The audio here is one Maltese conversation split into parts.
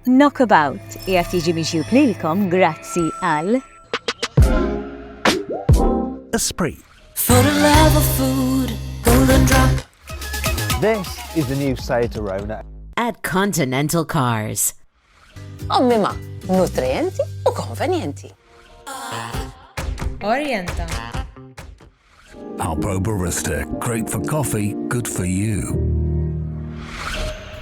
Knockabout qiegħed jiġi miġjub lilkom grazzi għal. Esprit. For the love of food, golden drop. This is the new Seat Arona. At Continental Cars. Ommima, nutrienti u konvenjenti. Orienta. Alpro Barista, great for coffee, good for you.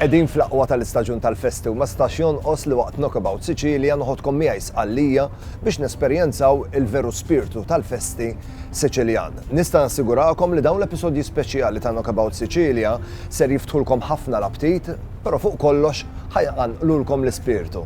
Qegħdin fl-aqwa tal-istaġun tal-festi u ma stax jonqos li waqt Knockabout Sicilia noħodkom miegħi Sqallija biex nesperjenzaw il-veru spirtu tal-festi Siċiljan. Nista' nassigurakom li dawn l-episodji speċjali ta' Knockabout Sicilia ser jiftħulkom ħafna l-aptit Però fuq kollox ħa jqanqlulkom l-ispirtu.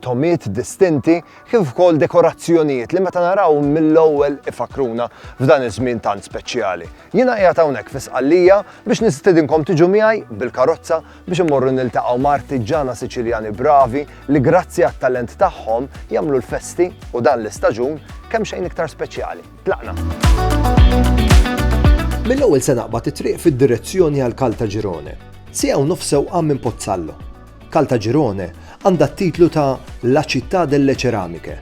tomiet distinti kif ukoll dekorazzjonijiet li meta naraw mill-ewwel ifakruna f'dan iż-żmien tant speċjali. Jiena qiegħed hawnhekk fi Sqallija biex nistidinkom tiġu miegħi bil-karozza biex immorru niltaqgħu ma' artiġġana Siċiljani bravi li grazzi għat-talent tagħhom jagħmlu l-festi u dan l-istaġun kemm xejn iktar speċjali. Tlaqna! Mill-ewwel se naqbad it-triq fid-direzzjoni għal Caltagirone, siegħa u nofs sewqan minn Pozzallo. Caltagirone għandha t-titlu ta' La città delle ceramiche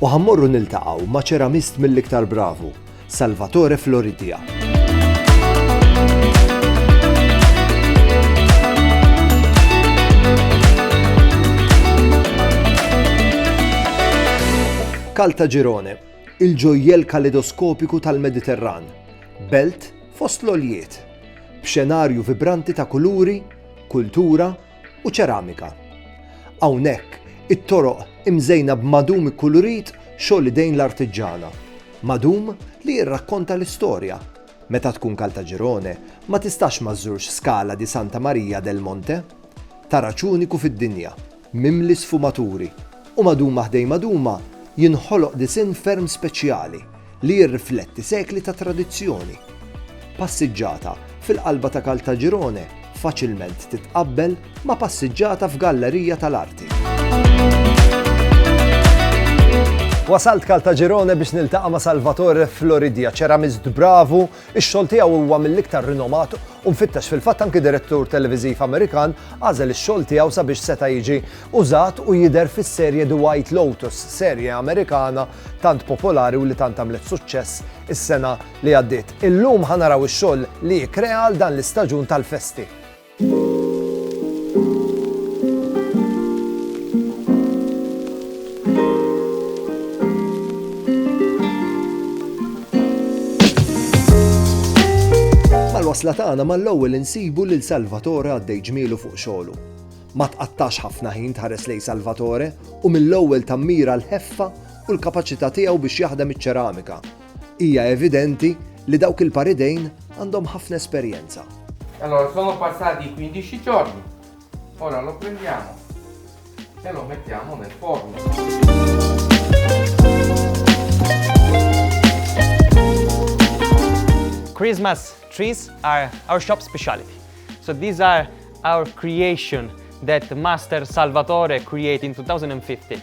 u ħa mmorru niltaqgħu ma' ċeramist mill-iktar bravu, Salvatore Floridia. Caltagirone, il-ġojjel kaledoskopiku tal-Mediterran, belt fost l-għoljiet, b'xenarju vibranti ta' kuluri kultura u ċeramika. Hawnhekk it-toroq imżejna b'madum ikkulurit xogħol idejn l-artiġġana, madum li jirrakkonta l-istorja. Meta tkun Kaltaġirone ma tistax ma żżurx Scala di Santa Maria del Monte, taraġ uniku fid-dinja. mimli sfumaturi, u maduma ħdejn maduma jinħoloq disinn ferm speċjali li jirrifletti sekli ta' tradizzjoni. Passiġġata fil-qalba ta' Caltagirone faċilment titqabbel ma' passiġġata f'gallerija tal-arti. Wasalt Caltagirone biex niltaqa' ma' Salvatore Floridia, ċeramist bravu Ix-xogħol tiegħu huwa mill-iktar rinomat u mfittex fil-fatt anki direttur televiżiv Amerikan għażel ix-xogħol tiegħu sabiex seta' jiġi użat u jidher fis-serje The White Lotus, serje Amerikana tant popolari u li tant għamlet suċċess is-sena li għaddiet. Illum ħa naraw ix-xogħol li kkrea għal dan l-istaġun tal-festi. wasla tagħna mal-ewwel insibu lil Salvatore għaddej ġmielu fuq xogħlu. Ma tqattax ħafna ħin tħares lej Salvatore u mill-ewwel tammira l-ħeffa u l-kapaċità tiegħu biex jaħdem iċ-ċeramika Hija evidenti li dawk il-par idejn għandhom ħafna esperjenza. Allora, sono passati 15 giorni. Ora lo prendiamo e lo mettiamo nel forno. Christmas trees are our shop specialty. So these are our creation that Master Salvatore created in 2015.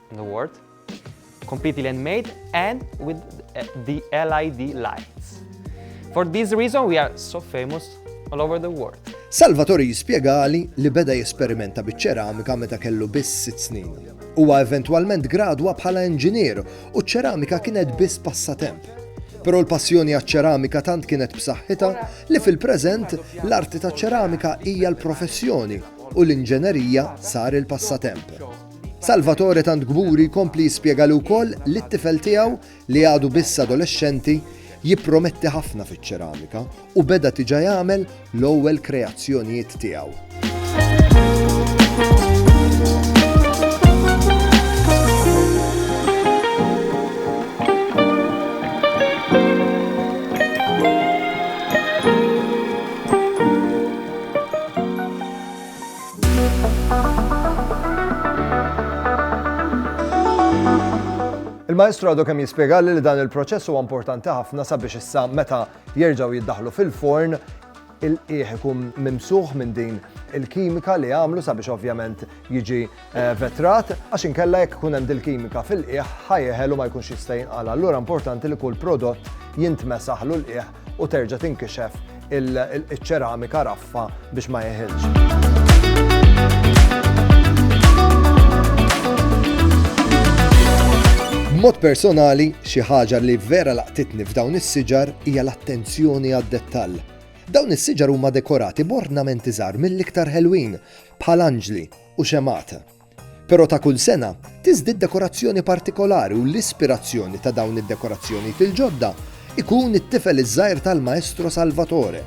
in the world, completely handmade and with uh, the LED lights. For this reason we are so famous all over the world. Salvatore jispjegali li beda jesperimenta biċ-ċeramika meta kellu biss sitt snin. Huwa eventwalment gradwa bħala inġinier u ċ-ċeramika kienet biss passatemp. Però l-passjoni għaċ-ċeramika tant kienet b'saħħitha li fil-preżent l-arti ta' ċeramika hija l-professjoni u l-inġenerija sar il-passatemp. Salvatore tant kburi jkompli jispjega li wkoll li t-tifel tiegħu, li għadu biss adolexxenti, jipprometti ħafna fiċ-ċeramika u beda tiġa jagħmel l-ewwel kreazzjonijiet tiegħu. Il-Maestru għadu kemm jispjegalli li dan il-proċess huwa importanti ħafna sabiex issa meta jerġgħu jiddaħlu fil-forn il-qiegħ ikun mimsuħ minn din il-kimika li għamlu sabiex ovvjament jiġi eh, vetrat, għax inkella jekk ikun hemm dil-kimika fil-qiegħ ħajjeħel u ma jkunx jista' jinqala. Allura importanti li kull prodott jintmesaħlu l-qiegħ u terġa' tinkixef iċ-ċeramika raffa biex ma jeħilx. B'mod personali, xi ħaġa li vera laqtitni f'dawn is-siġar hija l-attenzjoni għad-dettall. Dawn is-siġar huma dekorati b'ornamenti żgħar mill-iktar ħelwin, bħal anġli u xemata. Però ta' kull sena, tiżdied dekorazzjoni partikolari u l-ispirazzjoni ta' dawn id-dekorazzjonijiet il-ġodda jkun it-tifel iż-żgħir tal-Maestro Salvatore.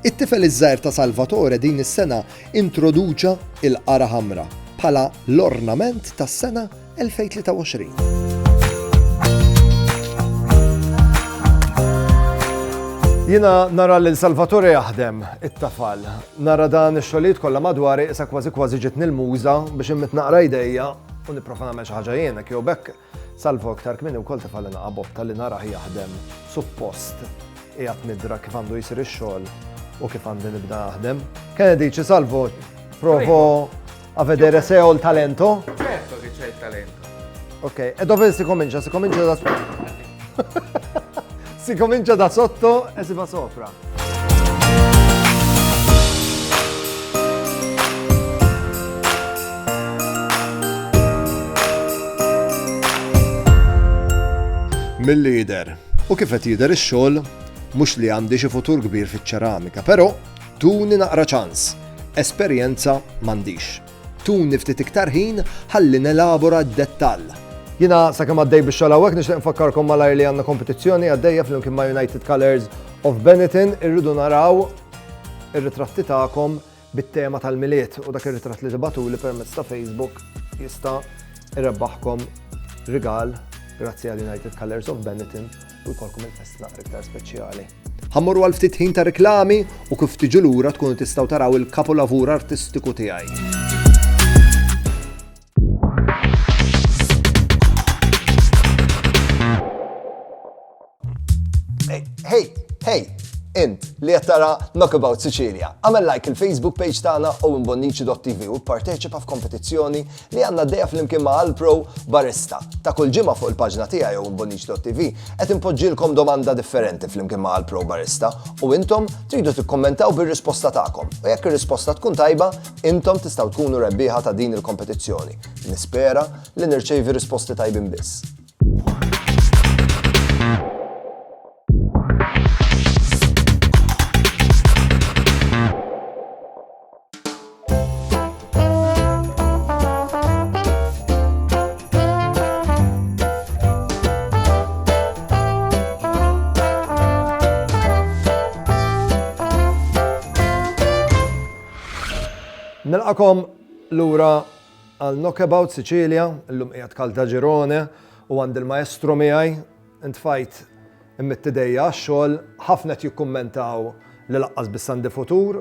It-tifel iż-żgħir ta' Salvatore din is-sena introduċa l-qara ħamra bħala l-ornament tas-sena 2023. Jiena nara lil Salvatore jaħdem it-tafal. Nara dan ix-xogħlijiet kollha madwari issa kważi kważi ġietni l-muża biex inmidd naqra idejja u nipprova nagħmel xi ħaġa jien, hekk jew b'hekk Salvo iktar kmieni wkoll tefgħalli naqa' Bob talli narah jaħdem suppost qiegħed nidra kif għandu jsir ix-xogħol u kif għandi nibda naħdem. Kennedy, Ċi Salvo, provo. A vedere se ho il talento? Certo che c'è il talento. Ok, e dove si comincia? Si comincia da sotto. si comincia da sotto e si va sopra. Mill-lider. U kif qed jidher ix-xogħol mhux li għandi xi futur kbir fiċ-ċeramika, però Tuni naqra ċans, esperjenza m'għandix. Tuni ftit iktar ħin ħalli nelabora d-dettall. Jiena sakemm għaddej bix-xogħol hawnhekk nixtieq nfakkarkom malajr li għandna kompetizzjoni għaddejja flimkien ma' United Colours of Benetton irridu naraw ir-ritratti tagħkom bit-tema tal-Milied u dak ir-ritratt li tibgħatuli permezz ta' Facebook jista' jrebbaħkom rigal grazzi għal United Colours of Benetton u jkollkom il-festa naqra iktar speċjali. Ħammorru għal ftit ħin ta' reklami u kif tiġu lura tkunu tistgħu taraw il-kapolavur artistiku tiegħi. Hey, hey, int li qed tara Knockabout Sicilia. Għamel like il-Facebook page tagħna u imbonniċi.tv u pparteċipa f'kompetizzjoni li għandna għaddejja flimkien ma' Alpro Barista. Ta' kull ġimgħa fuq il-paġna tiegħi jew imbonniċ.tv qed inpoġġilkom domanda differenti flimkien ma' Alpro Barista u intom tridu tikkummentaw bir-risposta tagħkom. U jekk ir-risposta tkun tajba, intom tistgħu tkunu rebbieħa ta' din il-kompetizzjoni. Nispera li nirċevi risposti tajbin biss. Nilqakom lura għal Knockabout Sicilia, l-lum qiegħed kalda ġirone u għand il-maestro miegħi intfajt immittidejja għax-xogħol ħafna qed jikkummentaw li laqqas bis-sandi futur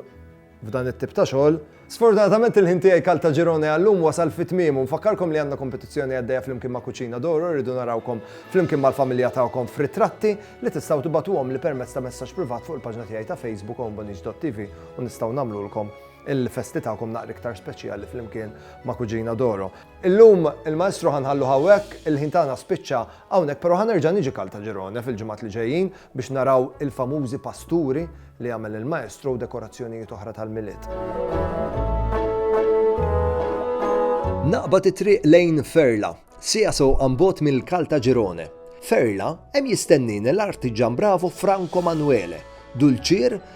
f'dan it-tip ta' xogħol. Sfortunatament il-ħin tiegħi Caltagirone għallum wasal fi tmiemu. Nfakkarkom li għandna kompetizzjoni għaddejja flimkien ma' Cucina d'Oro rridu narawkom flimkien mal-familja tagħkom f'ritratti li tistgħu tibatuhom li permezz ta' messaġġ privat fuq il-paġna tiegħi ta' Facebook ombonix.tv u nistgħu nagħmlulkom il-festi tagħkom naqra iktar speċjali flimkien ma' Cucina d'Oro. Illum il-maestru ħanħallu hawnhekk, il-ħin tagħna spiċċa Hawnhekk però ħa nerġa' niġi Caltagirone fil-ġimgħat li ġejjin biex naraw il-famużi pasturi li jagħmel il-maestro u dekorazzjonijiet oħra tal-Milied. Naqbad it-triq lejn Ferla, siegħa sewqa 'n bogħod mill-Caltagirone. Ferla, hemm jistennini l-artiġan bravu Franco Manuele, dulċier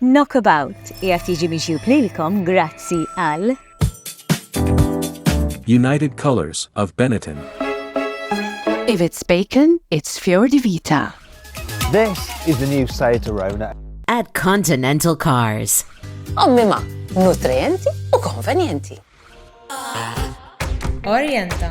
Knockabout qiegħed jiġi mixjub lilkom grazzi għal United Colors of Benetton. If it's bacon, it's Fior di Vita. This is the new Seat Arona. At Continental Cars. Ommima, nutrienti u konvenienti. Orienta.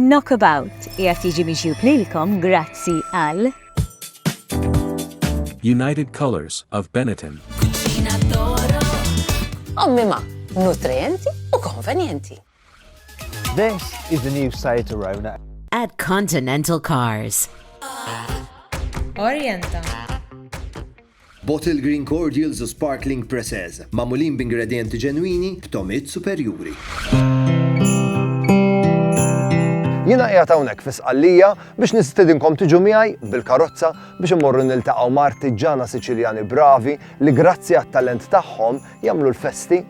Knockabout qiegħed jiġi miġjub lilkom grazzi għal. United Colours of Benetton. Omima, nutrijenti u konvenjenti. This is the new Seat Arona. At Continental Cars. Orienta. Bottle Green Cordials u Sparkling Presses, mamulin b'ingredienti ġenwini b'tomit superjuri. Jiena qiegħed hawnhekk fi Sqallija biex nistedinkom tiġu miegħi bil-karozza biex immorru niltaqgħu ma' artiġġana Siċiljani bravi li grazzi għat-talent tagħhom jagħmlu l-festi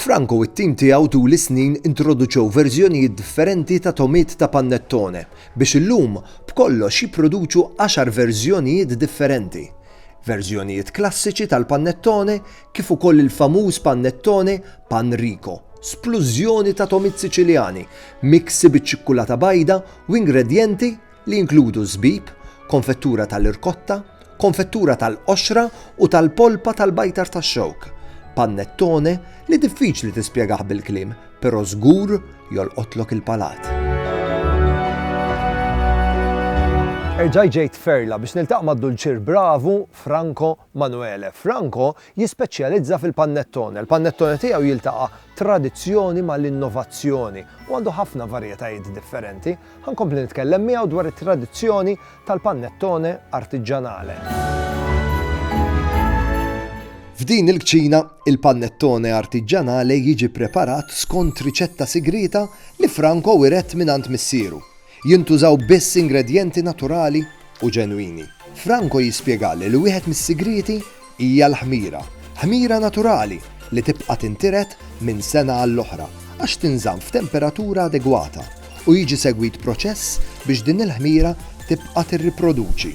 Franco u t-tim tiegħu tul is-snin introduċew verżjonijiet differenti ta' togħmiet ta' panettone biex illum b'kollox jipproduċu għaxar verżjonijiet differenti. Verżjonijiet klassiċi tal-panettone kif ukoll il-famuż panettone Pan Rico, splużjoni ta' togħmiet Siċiljani, miksi biċ-ċikkulata bajda u ingredjenti li jinkludu żbib, konfettura tal-irkotta, konfettura tal-qoxra u tal-polpa tal-bajtar tax-xewk, panettone li diffiċli tispjegah bil-kliem, però żgur jolqotlok il-palat. Erġajt ġejt Ferla biex niltaqa' mad-dulċier bravu Franco Manuele. Franco jispeċjalizza fil-panettone. Il-panettone tiegħu jiltaqa' tradizzjoni mal-innovazzjoni u għandu ħafna varjetajiet differenti. Ħa nkompli nitkellem miegħu dwar it-tradizzjoni tal-pannettone artiġġanale. F'din il-kċina, il-pannettone artiġġanale jiġi preparat skont riċetta sigrieta li Franco wiret mingħand missieru. Jintużaw biss ingredjenti naturali u ġenwini. Franco jispjegali li wieħed mis-sigrieti Hija l-ħmira. Ħmira naturali li tibqa' tintiret minn sena għall-oħra għax tinżamm f'temperatura adegwata u jiġi segwit proċess biex din il-ħmira tibqa' tirriproduċi.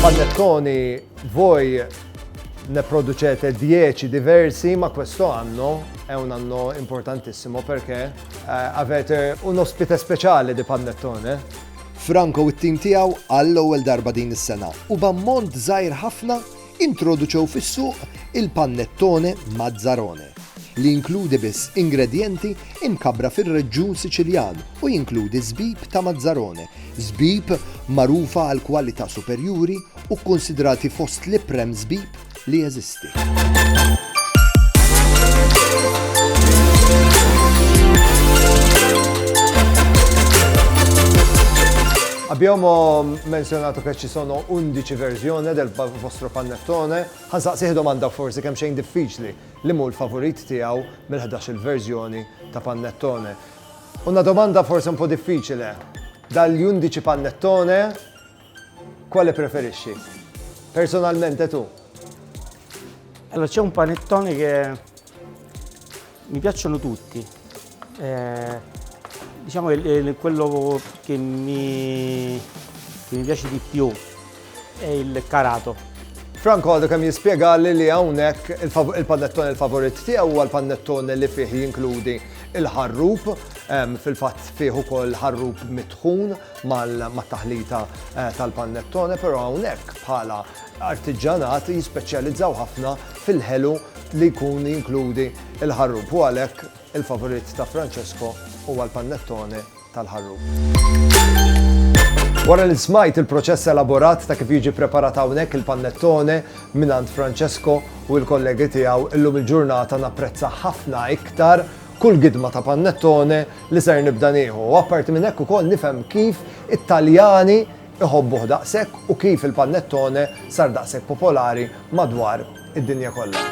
Panettoni voi ne producete 10 diversi, ma questo anno è un anno importantissimo perché eh, avete un ospite speciale di panettone Franco u t-tim tiegħu għall-ewwel darba din is-sena u b'ammont żgħir ħafna introduċew fis-suq il-pannettone Mazzarone, li jinkludi biss ingredjenti imkabbra fir-reġjun Siċiljan u jinkludi żbib ta' Mazzarone, żbib magħrufa għall-kwalità superjuri u kkunsidrati fost l-iprem żbib li jeżisti. Abbiamo menzionato che ci sono 11 versioni del vostro panettone. Ħansa siħ domanda forsi kemm xejn diffiċli li mu l-favorit tiegħu mill-11 il-verżjoni ta' panettone. Una domanda forsi un po' diffiċile. Dal-11 panettone Quale preferisci? Personalmente tu? Allora c'è un panettone che mi piacciono tutti. Eh, diciamo che quello che mi, che mi piace di più è il carato. Franco għadu kem jispiega li li għawnek il-panettone il-favorit tiegħu huwa l-panettone li fih jinkludi il-ħarrub, fil-fatt fih ukoll ħarrub mitħun, mat-taħlita tal-pannettone, però hawnhekk bħala artiġġanat jispeċjalizzaw ħafna fil-ħelu li jkun jinkludi l-ħarrub u għalhekk il-favorit ta' Francesco huwa l-pannettone tal-ħarrub. Wara li smajt il-proċess elaborat ta' kif jiġi ppreparat hawnhekk il-pannettone mingħand Francesco u l-kollegi tiegħu illum il-ġurnata napprezza ħafna iktar kull gidma ta' pannettone li ser nibda nieħu u apparti minn hekk ukoll nifhem kif it-Taljani iħobbuh daqshekk u kif il-pannettone sar daqshekk popolari madwar id-dinja kollha.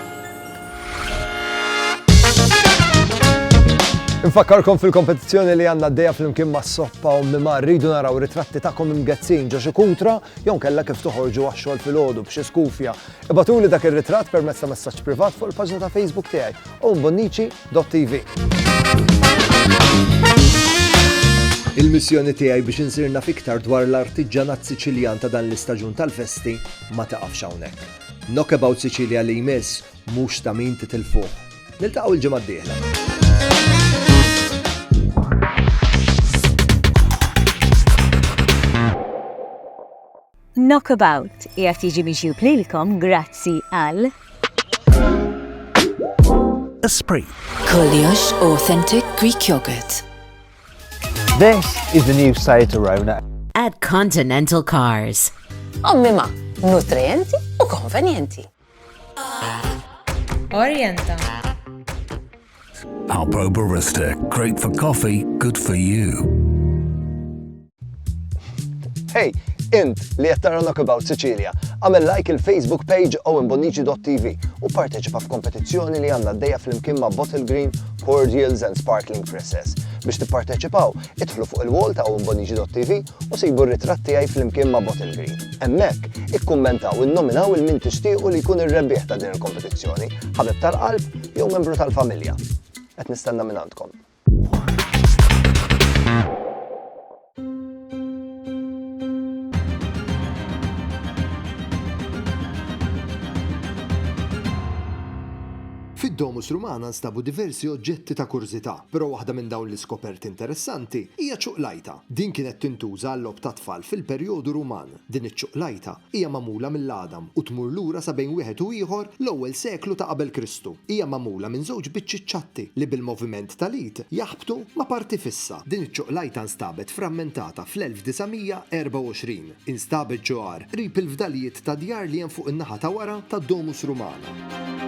Infakkarkom fil-kompetizzjoni li għandna d-deja fl-imkien ma' soppa u mima rridu naraw ritratti ta'kom imgezzin ġo xi kutra jew kella kif toħorġu għax-xogħol fil-ħodu b'xi skufja. Ibatuli dak ir-ritratt permezz ta' messaġġ privat fuq il-paġna ta' Facebook tiegħi u mbonniċi Dot.tv. Il-missjoni tiegħi biex insir naf iktar dwar l-artiġġanat Siċiljan ta' dan l-istaġun tal-festi ma taqafx hawnhekk. Knockabout Sicilia li jmiss mhux ta' min titilfuh. Niltaqgħu l-ġimgħa d-dieħla. Knockabout qiegħed jiġi miġjub lilkom grazzi għal. Esprit. Kollox authentic Greek yogurt. This is the new Seat Arona. At Continental Cars. Ommima, nutrienti u konvenjenti. Orienta. Alpro Barista, great for coffee, good for you. Hey, int li qed tara Knockabout Sicilia, għamel like il-Facebook page owenbonici.tv u parteċipa f'kompetizzjoni li għandna d-dejja fl-imkien ma' Bottle Green, Cordials and Sparkling Presses. Biex tipparteċipaw, Idħlu fuq il-wall ta' owenbonigi.tv u sibu r-ritratt tiegħi flimkien ma' Bottle Green. Hemmhekk, ikkummentaw u nnominaw 'il min tixtiequ li jkun ir-rebbieħ ta' din il-kompetizzjoni, ħabib tal-qalb jew membru tal-familja. Qed nistenna mingħandkom. Fid-Domus Rumana nstabu diversi oġġetti ta' kurżità. Però waħda minn dawn l-iskoperti interessanti hija ċuqlajta. Din kienet tintuża għal-logħob tat-tfal fil-perjodu Ruman. Din iċ-ċuqlajta hija magħmula mill-għadam u tmur lura sa bejn wieħed u ieħor l-ewwel seklu ta' qabel Kristu. Hija magħmula minn żewġ biċċiet ċatti li bil-moviment tal-id jaħbtu ma' parti fissa. Din iċ-ċuqlajta nstabet frammentata fl-1924. instab iġ-ġohar qrib il-fdalijiet ta' djar li hemm fuq in-naħa ta' wara tad-Domus Rumana.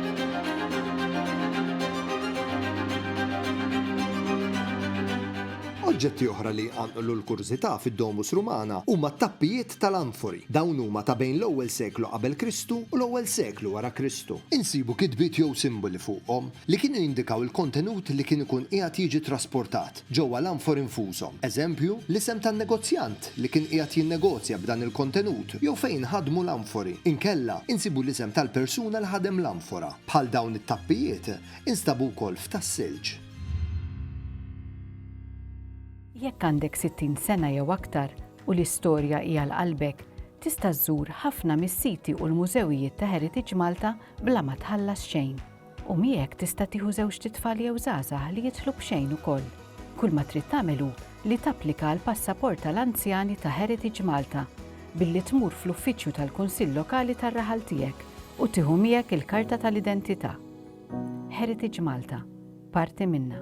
Oġġetti oħra li jqanqlu l-kurżità fid-Domus Rumana huma t-tappijiet tal-anfori. Dawn huma ta' bejn l-ewwel seklu qabel Kristu u l-ewwel seklu wara Kristu. Insibu kitbiet jew simboli fuqhom li kienu jindikaw il-kontenut li kien ikun qiegħed jiġi trasportat. ġewwa l-anfor infushom, eżempju, l-isem tan-negozjant li kien qiegħed jinnegozja b'dan il-kontenut jew fejn inħadmu l-anfori, inkella insibu l-isem tal-persuna li ħadem l-anfora. Bħal dawn it-tappijiet, instabu wkoll f'tas-silġ. Jekk għandek 60 sena jew aktar u l-istorja hi għal qalbek, tista' żżur ħafna mis-siti u l-mużewijiet ta' Heritage Malta bla ma tħallas xejn. U miegħek tista' tieħu żewġt itfal jew żgħażagħ li jidħlu b'xejn ukoll. Kull ma trid tagħmel hu li tapplika għal passaport tal-anzjani ta' Heritage Malta billi tmur fl-uffiċċju tal-Kunsill Lokali tar-raħal tiegħek u tieħu miegħek il-karta tal-identità. Heritage Malta, parti minna.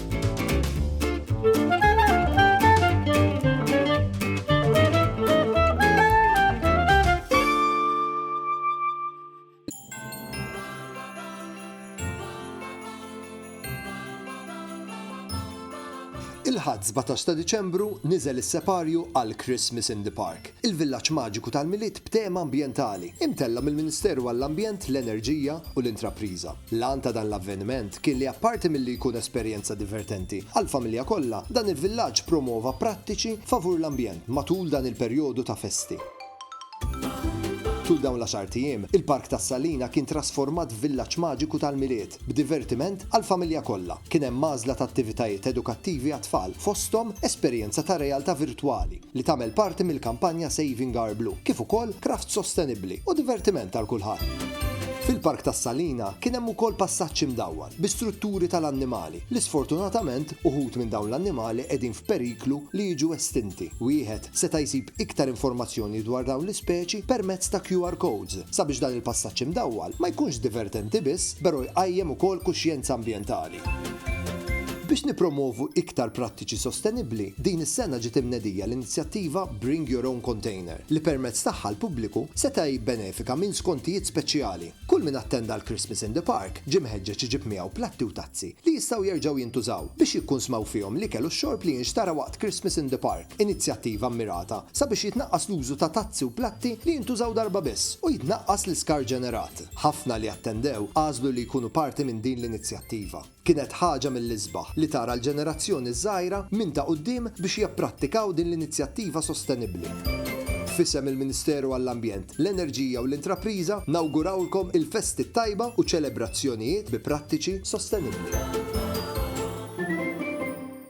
Il-Ħadd 17 ta' Diċembru niżel is-separju għal Christmas in the Park, il-villaġġ maġiku tal-Milied b'tema ambjentali, imtella' mill-Ministeru għall-Ambjent, l-Enerġija u l-Intrapriża. L-għan ta' dan l-avveniment kien li apparti milli jkun esperjenza divertenti għall-familja kollha, dan il-villaġġ promova prattiċi favur l-ambjent matul dan il-perjodu ta' festi. Tul dawn l-għaxart ijiem, il-Park tas-Salina kien trasformat f'villaġġ maġiku tal-Milied, b'divertiment għall-familja kollha. Kien hemm għażla ta' attivitajiet edukattivi għat-tfal, fosthom esperjenza ta' realtà virtwali. li tagħmel parti mill-kampanja Saving Our Blue, kif ukoll kraft sostenibbli u divertiment għal kulħadd. Fil-Park tas-Salina kien hemm ukoll passaġġ imdawwar bi strutturi tal-annimali li sfortunatament uħud minn dawn l-annimali qegħdin f'periklu li jiġu estinti. Wieħed seta' jsib iktar informazzjoni dwar dawn l-ispeċi permezz ta' QR codes sabiex dan il-passaġġ imdawwal ma jkunx divertenti biss pero jqajjem ukoll kuxjenza ambjentali. Biex nippromwovu iktar prattiċi sostenibbli, din is-sena ġiet imnedija l-inizjattiva Bring Your Own Container, li permezz tagħha l-pubbliku seta' jibbenefika minn skontijiet speċjali. Kull min attenda l-Christmas in the Park ġie mħeġġeġ iġib miegħu platti u tazzi li jistgħu jerġgħu jintużaw biex jikkunsmaw fihom l-ikel u x-xorb li jinxtara waqt Christmas in the Park, inizjattiva mmirata sabiex jitnaqqas l-użu ta' tazzi u platti li jintużaw darba biss u jitnaqqas l-iskart ġenerat. Ħafna li attendew għażlu li jkunu parti minn din l-inizjattiva. Kienet ħaġa mill-isbaħ li tara l-ġenerazzjoni ż-żgħira minn ta' quddiem biex japprattikaw din l-inizjattiva sostenibbli. F'isem il-Ministeru għall-Ambjent, l-Enerġija u l-Intrapriża nawgurawlkom il-festi t-tajba u ċelebrazzjonijiet bi prattiċi sostenibbli.